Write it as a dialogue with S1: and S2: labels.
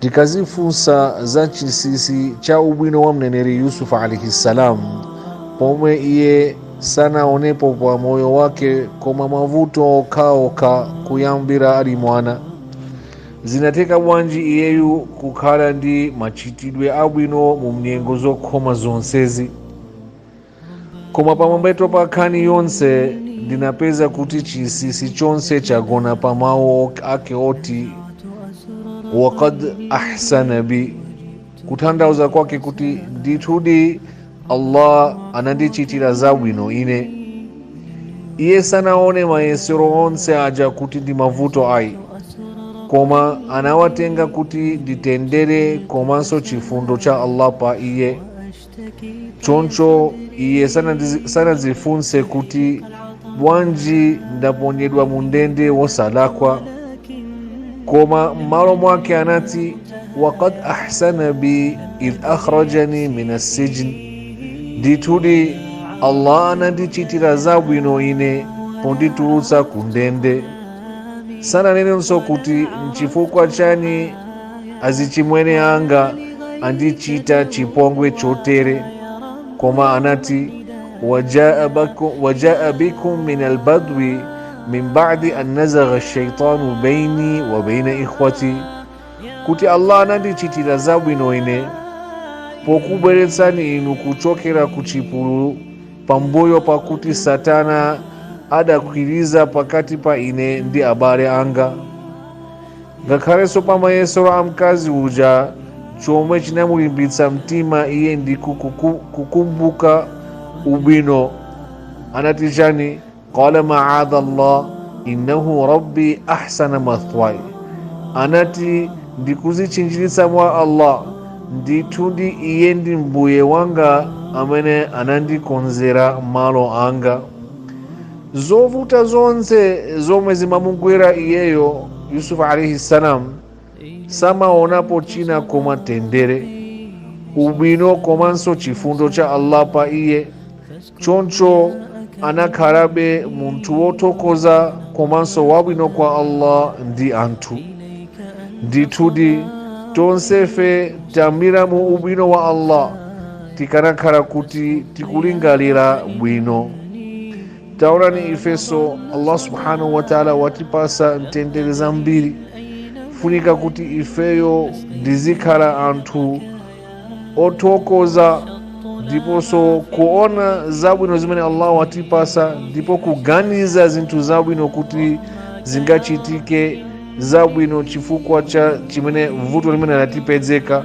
S1: tikazifunsa za chinsinsi cha ubwino wa mneneri yusufu alaihi ssalam pomwe iye sanaonepo pa moyo wake koma mavuto okhaokha kuyambira ali mwana zinatheka bwanji iyeyu kukhala ndi machitidwe abwino mu nyengo zokhoma zonsezi koma pamwamba pa nkhani yonse ndinapeza kuti chinsinsi chonse chagona pa mawu ake oti wakad ahsana bi kutanthauza kwake kuti ndithudi allah anandichitira zabwino ine iye sanaone mayesero onse aja kuti ndi mavuto ayi koma anawatenga kuti ndi mtendere komanso chifundo cha allah pa iye choncho iye sanadzifunse kuti bwanji ndaponyedwa mu ndende wosalakwa koma m'malo mwake anati wakad ahsana bi idh akhrajani min assijni ndithudi allah anandichitira zabwino ine ponditulutsa ku ndende sananenenso kuti nchifukwa chani azichimwene anga andichita chipongwe chotere koma anati wajaa bikum min albadwi min badi an nazagha shaitanu baini wa baina ikhwati kuti allah anandichitira zabwino ine pokubweretsani inu kuchokera ku chipululu pambuyo pakuti satana adakwiriza pakati pa ine ndi abale anga ngakhalenso pa mayesero a mkazi uja chomwe chinamulimbitsa mtima iye ndi ku- kukumbuka ubwino anati chani qala maadha llah innahu rabbi ahsana mathwai anati ndikuzitchinjiritsa mwa allah ndithudi iye ndi mbuye wanga amene anandikonzera malo anga zovuta zonse zomwe zimamugwera iyeyo yusufu alaihi salam samaonapo china koma mtendere ubwino komanso chifundo cha allah pa iye choncho anakhalabe munthu wothokoza komanso wabwino kwa allah ndi anthu ndithudi tonsefe tamira mu ubwino wa allah tikanakhala kuti tikulingalira bwino taonani ifeso allah subhanahu wataala watipasa mtendere zambiri funika kuti ifeyo tizikhala anthu othokoza ndiponso kuona zabwino zimene allah watipasa ndipo kuganiza zinthu zabwino kuti zingachitike zabwino chifukwa cha chimene vuto limene anatipezeka